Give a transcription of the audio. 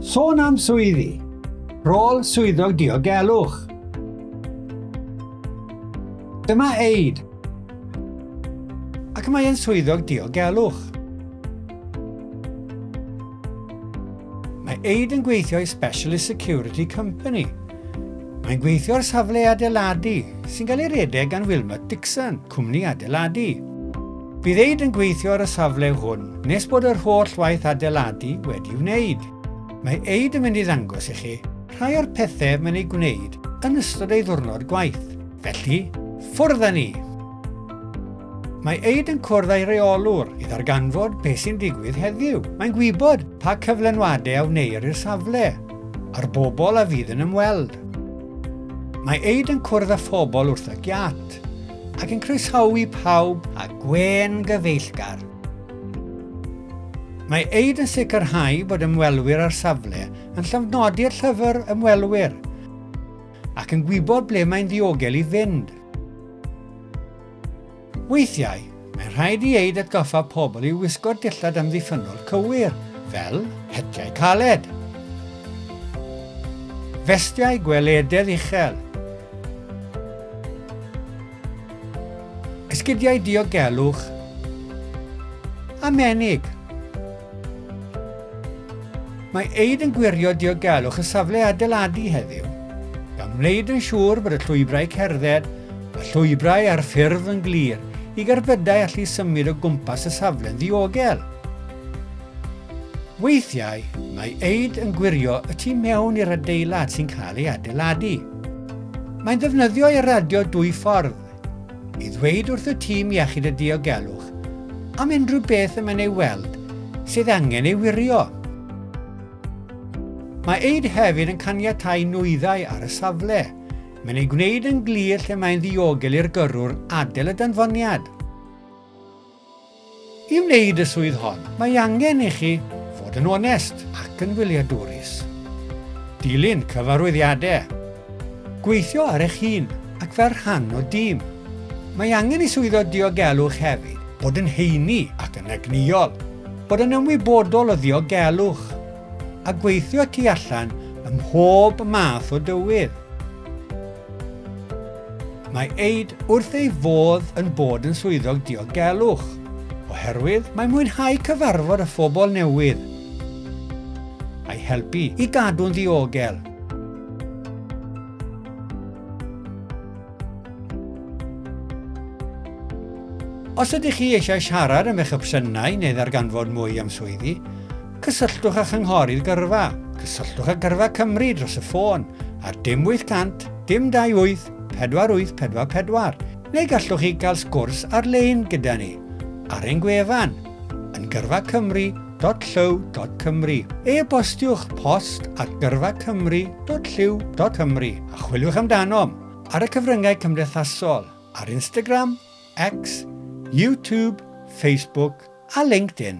Sôn am swyddi. Rôl swyddog diogelwch. Dyma Eid. Ac mae'n swyddog diogelwch. Mae Eid yn gweithio i Specialist Security Company. Mae'n gweithio ar safle adeiladu sy'n cael ei redeg gan Wilmot Dixon, cwmni adeiladu. Bydd eid yn gweithio ar y safle hwn nes bod yr holl waith adeiladu wedi wneud. Mae eid yn mynd i ddangos i chi rhai o'r pethau mae'n ei gwneud yn ystod ei ddwrnod gwaith. Felly, ffwrdd â ni! Mae Eid yn cwrdd â'i reolwr i ddarganfod beth sy'n digwydd heddiw. Mae'n gwybod pa cyflenwadau a wneir i'r safle, a'r bobl a fydd yn ymweld. Mae Eid yn cwrdd â phobl wrth y giat. Cymreictod ac yn croesawu pawb a gwên gyfeillgar. Mae Eid yn sicrhau bod ymwelwyr â'r safle yn llofnodi'r llyfr ymwelwyr ac yn gwybod ble mae'n ddiogel i fynd. Weithiau, Mae'n rhaid i Eid atgoffa pobl i wisgo dillad amddiffynnol cywir, fel hetiau caled, festiau gwelededd uchel, esgidiau diogelwch a menig. Mae Eid yn gwirio diogelwch y safle adeiladu heddiw, gan wneud yn siŵr bod y llwybrau cerdded a llwybrau ar ffurf yn glir i gerbydau allu symud o gwmpas y safle'n ddiogel. Weithiau, mae Eid yn gwirio y tu mewn i'r adeilad sy'n cael ei adeiladu. Mae'n ddefnyddio eiradio dwy ffordd, i ddweud wrth y Tîm Iechyd a Diogelwch am unrhyw beth y mae'n ei weld sydd angen ei wirio. Mae eid hefyd yn caniatáu nwyddau ar y safle. Mae'n ei gwneud yn glir lle mae'n ddiogel i'r gyrrwr adael y danfoniad. I wneud y swydd hon, mae angen i chi fod yn onest ac yn wyliadwrus. Dilyn cyfarwyddiadau. Gweithio ar eich hun ac fel rhan o dîm. Mae angen i swyddog diogelwch hefyd bod yn heini ac yn egnïol, bod yn ymwybodol o ddiogelwch, a gweithio tu allan ym mhob math o dywydd. Mae Aid wrth ei fodd yn bod yn swyddog diogelwch, oherwydd mae'n mwynhau cyfarfod â phobl newydd a'i helpu i gadw'n ddiogel. Os ydych chi eisiau siarad am eich opsiynau neu ddarganfod mwy am swyddi, Cysylltwch â Chynghorydd Gyrfa, cysylltwch â Gyrfa Cymru dros y ffôn ar dim 800 dim 28 4844 neu gallwch chi gael sgwrs ar-lein gyda ni ar ein gwefan yn gyrfacymru.llyw.cymru. E-bostiwch post at gyrfacymru.llyw.cymru a chwiliwch amdanom ar y cyfryngau cymdeithasol ar Instagram, X, YouTube, Facebook a LinkedIn.